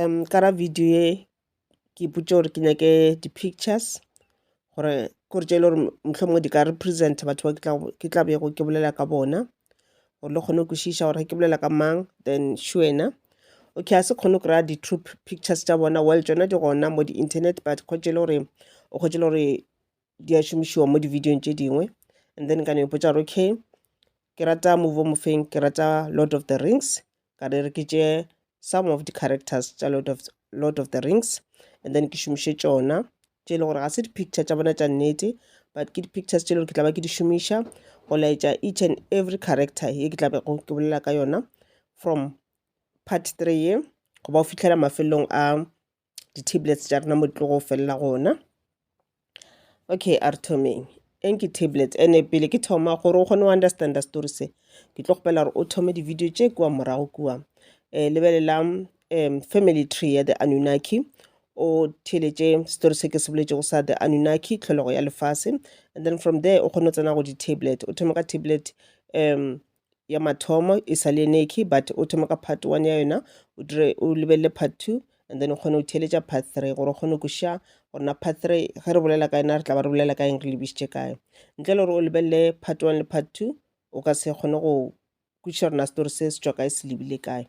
um ka ra video ye ke ipotše gore ke nyake di-pictures gore gore tše e le gore mohlomongwe di ka represent batho ba ke tla bego ke bolela ka bona gore le kgone go kwešiša gore ke bolela ka mang then še wena okay a se kgone go kry-a di-troop pictures tša bona well tšona di gona mo di-internet but kgotse e le gore o kgotse le gore di a šomišiwa mo di-videong tše dingwe and then ka no ipotša gore okay Ke rata movie o mofeng? Ke rata Lord of the Rings. Ka re re ke tše some of the characters tša Lord of, Lord of the Rings and then ke šomiše tšona tše e le gore ga se di-picture tša bona tša nnete but ke di-pictures tše e le gore ke tla ba ke di šomiša go laetša each and every character ye ke tla bego ke bolela ka yona from part three ye go ba o fitlhela mafelelong a di-tablets tša rena mo di tlo go felela gona okay a re thomeng eng ke tablets ene pele ke thoma gore o kgone go understanda story se ke tlo kgopela gore o thome di-video tše kua morago kua um lebelelang um family tree ya the anunnaki o theletše story se ke se boletšego sa the anunnaki tlholego ya lefase and then from there o kgone go tsena go di-tablet o thome ka tablet um ya mathomo e sa le neki but o thome ka part one ya yona o dire o lebelele part two and then o kgone go theeletša part three gore o kgone go ša gore na part three ge re bolela ka yena re tla ba re bolela ka eng re lebišitše kae ntle le gore o lebelele part one le part two o ka se kgone go kwešiša gore na setori se se tšwa kae se lebile kae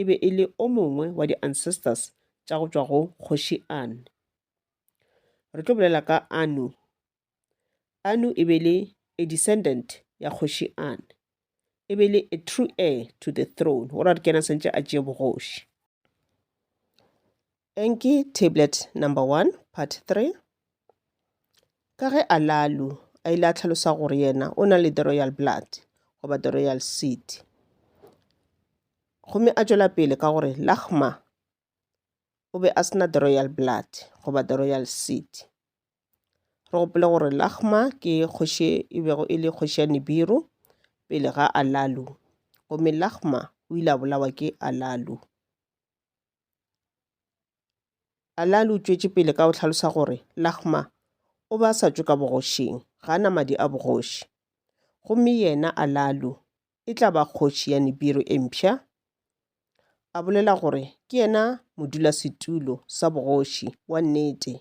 e be e le o mongwe wa di-ancestors tša go tšwa go Kgoši An. Re tlo bolela ka Anu. Anu e be le a descendant ya Kgoši An. E be le a true heir to the throne, gore a re kena sentše a tšee bogoši. Enki Tablet Number 1, Part 3 Ka ge Alalu a ile a hlalosa gore yena o na le The Royal Blood, goba The Royal Seed, gomme a tšwela pele ka gore Lakhma o be a se na The Royal Blood, goba The Royal Seed. Re gopole gore Lakhma ke kgoši e bego e le kgoši ya Nibiru pele ga Alalu, gomme Lakhma o ile a bolawa ke Alalu. Alaa o tšwetše pele ka go hlalosa gore Lahma o be a sa tšwe ka bogošing, ga a na madi a bogoši. Gomme yena, Alaa, e tla ba kgoši ya Nibiru e mpsha. A bolela gore ke yena modulasetulo sa bogoši wa nnete,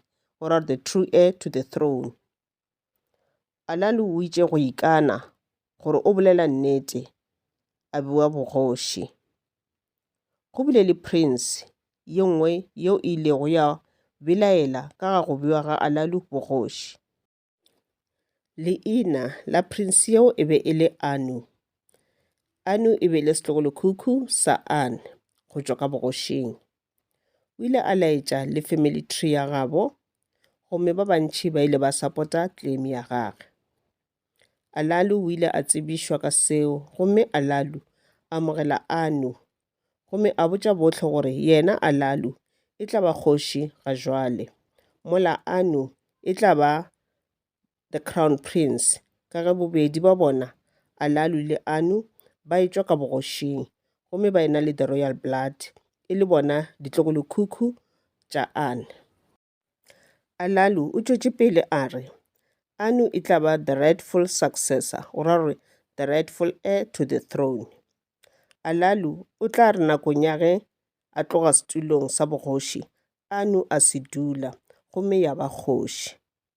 or are the true heir to the throne. Alalu o itše go ikana gore o bolela nnete a bua bogoši. Go bile le prince ye nngwe yeo e ilego ya belaela ka ga go bua ga Alalu bogoši. Leina la prince yeo e be e le Anu. Anu e be e le setlogolekhukhu sa Anne go tšwa ka bogošing. O ile a laetša le family tree ya gabo, gomme ba bantši ba ile ba sapota claim ya gage. Alalu o ile a tsebišwa ka seo, gomme Alalu a amogela Anu, gomme a botša bohle gore yena Alalu e tla ba kgoši ga jwale, mola Anu e tla ba The Crown Prince, ka ge bobedi bja bona, Alalu le Anu, ba etšwa ka bogošing gomme ba ena le The Royal Blood, e le bona ditlogolokhukhu tša Anu. Alalu o tšwetše pele a re, Anu e tla ba the rightful successor, go ra gore the rightful heir to the throne. Alalu o tla re nakong ya ge a tloga setulong sa bogoši, Anu a se dula gomme ya ba kgoši.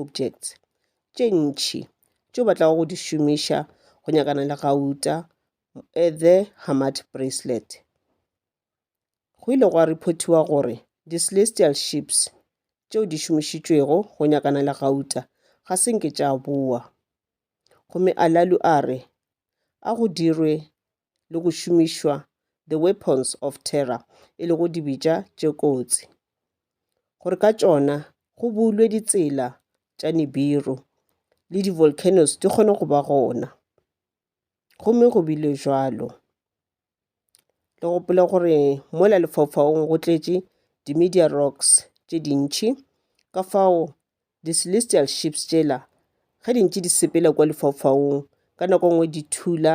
objects, tše ntši tšeo ba tlago go di šomiša go nyakana le gauta at the Hamad Bracelet. Go ile gwa reportiwa gore di celestial ships tšeo di šomišitšwego go nyakana le gauta ga se nke tša boa. Gomme Alalu a re a go dirwe le go šomišwa the weapons of terror e lego dibitša tše kotsi gore ka tšona go bulwe ditsela tša nibiru le di-volcanoes di kgone go ba gona gomme go bile jalo le gopole gore mola lefaufaung go tletše di-media rocks tše dintšhi ka fao di-celestial ships tšela ge di ntše di sepela kwa lefaufaung ka nako nngwe di thula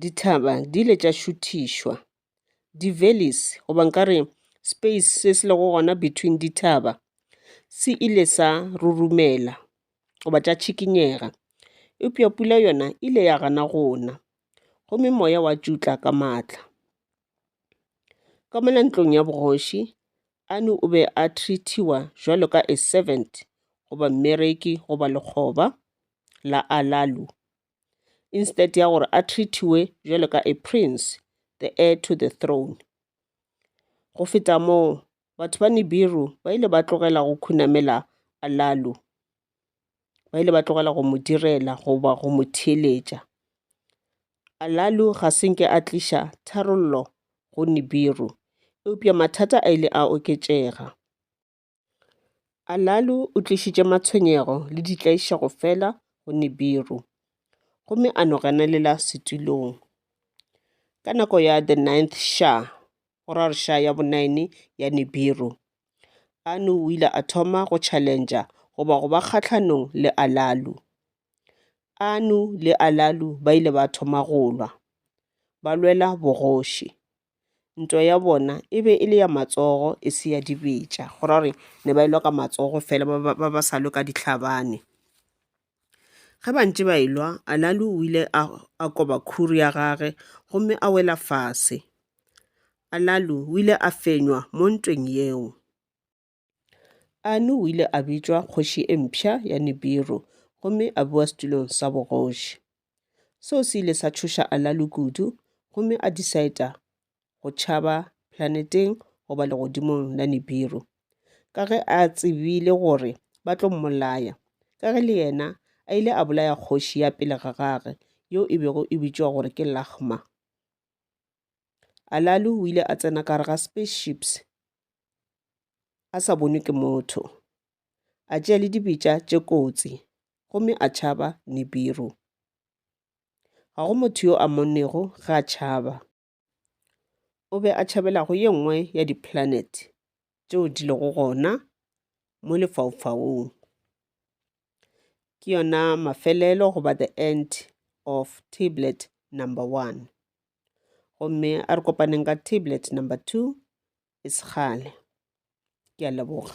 Dithaba di ile tša šuthišwa. Di-valleys, goba nka re space se se lego gona between dithaba, se ile sa rurumela goba tša tšhikinyega. Eupša pula yona e ile ya gana go na, gomme moya wa tšutla ka matla. Ka mona ntlong ya bogoši, Anu o be a treat-iwa jwalo ka a servant, goba mmereki, goba lekgoba la Alalu. instead ya gore a treatiwe jwalo ka a prince the heir to the throne go feta moo batho ba nibiru ba ile ba tlogela go khunamela alalu ba ile ba tlogela go mo direla goba go mo theeletša alalu ga se nke a tliša tharollo go nibiru eupša mathata a ile a oketšega Alalu o tlišitše matshwenyego le ditlaišego fela go Nibiru gomme a no renelela setulong. Ka nako ya The Ninth Sha, go ra gore Sha ya bonaene ya Nibiru, Anu o ile a thoma go tšhalentša goba go ba kgahlanong le Alalu. Anu le Alalu ba ile ba thoma go lwa, ba lwela bogoši. ntwa ya bona e be e le ya matsogo e se ya dibetša go ra gore ne ba e lwa ka matsogo fela ba ba sa lwe ka ditlhabane ge ba ntše ba e lwa anale o ile a koba khuru ya gage gomme a wela fase anale o ile a fenywa mo ntweng yeo Anu o ile a bitšwa kgoši e mpsha ya Nibiru gomme a bowa setulong sa bogoši. Seo se ile sa tšhoša Alalu kudu gomme a disaeta go tšhaba planeteng goba legodimong la Nibiru ka ge a tsebile gore ba tlo mmolaya ka ge le yena a ile a bolaya kgoši ya pele ga gage yeo e bego e bitšwa gore ke Lahma. Alalu o ile a tsena ka gare ga spaceships a sa bonwe ke motho, a tšea le dibetša tše kotsi gomme a tšhaba Nibiru. Ga go motho yo a monnego ge a tšhaba. O be a tšhabela go ye nngwe ya diplanet tšeo di lego gona mo lefaufaung. Ke yona mafelelo goba the end of tablet number one. gomme a re kopaneng ka tablet number two e sekgale ke a leboga